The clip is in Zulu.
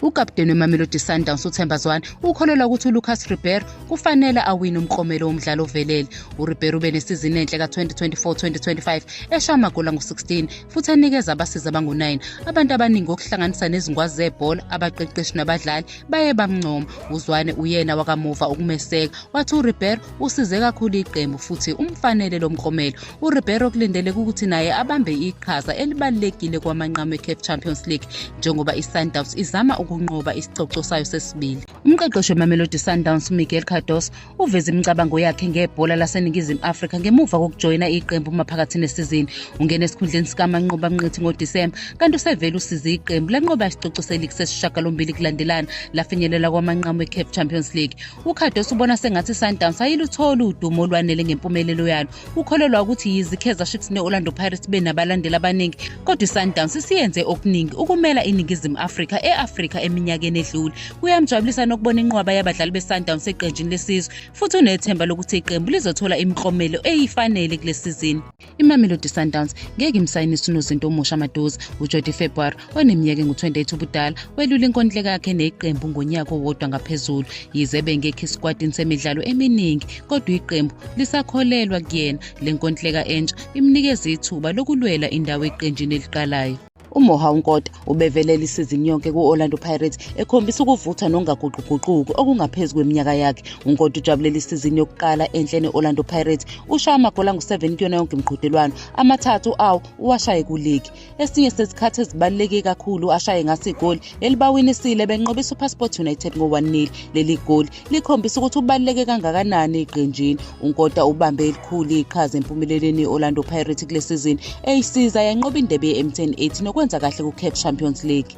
Ukapteni weMamelodi Sundowns uThemba Zwane ukholelwa ukuthi uLucas Ribeiro kufanele awine umklomelo womdlalo ovelele. URibeiro ube nesizini enhle ka-2024-2025 esha amagoli angu-16 futhi enikeza abasizi abangu-9. Abantu abaningi okuhlanganisa nezingwazi zebhola, abaqeqeshi nabadlali baye bamncoma. UZwane uyena wakamuva ukumeseka wathi uRibeiro Usize kakhulu iqembu futhi umfanele lo mklomelo. URibeiro kulindeleke ukuthi naye abambe iqhaza elibalulekile kwamanqamu eCaf Champions League njengoba iSundowns izama ukunqoba isicoco sayo sesibili. Umqeqeshi weMamelodi Sundowns uMiguel Cardoso uveze imicabango yakhe ngebhola laseNingizimu Afrika ngemuva kokujoyina iqembu maphakathi nesizini. Ungene esikhundleni sikaManqoba Mnqithi ngoDisemba kanti usevele usize iqembu lanqoba isicoco seligi sesishagalombili kulandelana lafinyelela kwamanqamu eCaf Champions League. UCardoso ubona sengathi iSundowns ayilutholi udumo olwanele ngempumelelo yalo. Ukholelwa ukuthi yize iKaizer Chiefs ne-Orlando Pirates benabalandeli abaningi, kodwa iSundowns isiyenze okuningi ukumela iNingizimu Afrika e-Afrika eminyakeni edlule. Kuyamjabulisa nokubona inqwaba yabadlali beSundowns eqenjini lesizwe, futhi unethemba lokuthi iqembu lizothola imiklomelo eyifanele kule sizini. imamelodi sundowns ngeke imsayinise unozinto omusha maduze ujodi february oneminyaka engu-28 ubudala welula inkontileka yakhe neqembu ngonyaka owodwa ngaphezulu yize bengekho esikwatini semidlalo eminingi kodwa iqembu lisakholelwa kuyena le nkontileka entsha imnikeza ithuba lokulwela indawo eqenjini eliqalayo umoha unkota ubevelele isizini yonke ku-orlando pirates ekhombisa ukuvutha nongaguquguquki okungaphezu kweminyaka yakhe unkota ujabulele isizini yokuqala enhle ne-orlando pirates ushaya amagoli angu-7 kuyona yonke imiqhudelwano amathathu awo uwashaye kuligi esinye sezikhathi ezibaluleke kakhulu ashaye ngaso igoli elibawinisile benqobisa upassport united ngo-1 nil leli goli likhombisa ukuthi ubaluleke kangakanani eqenjini unkota ubambe elikhulu iqhaza empumelelweni i-orlando pirates kule sizini eyisiza yanqoba indebe ye-m10 ethi nokwenza kahle ku-cap champions league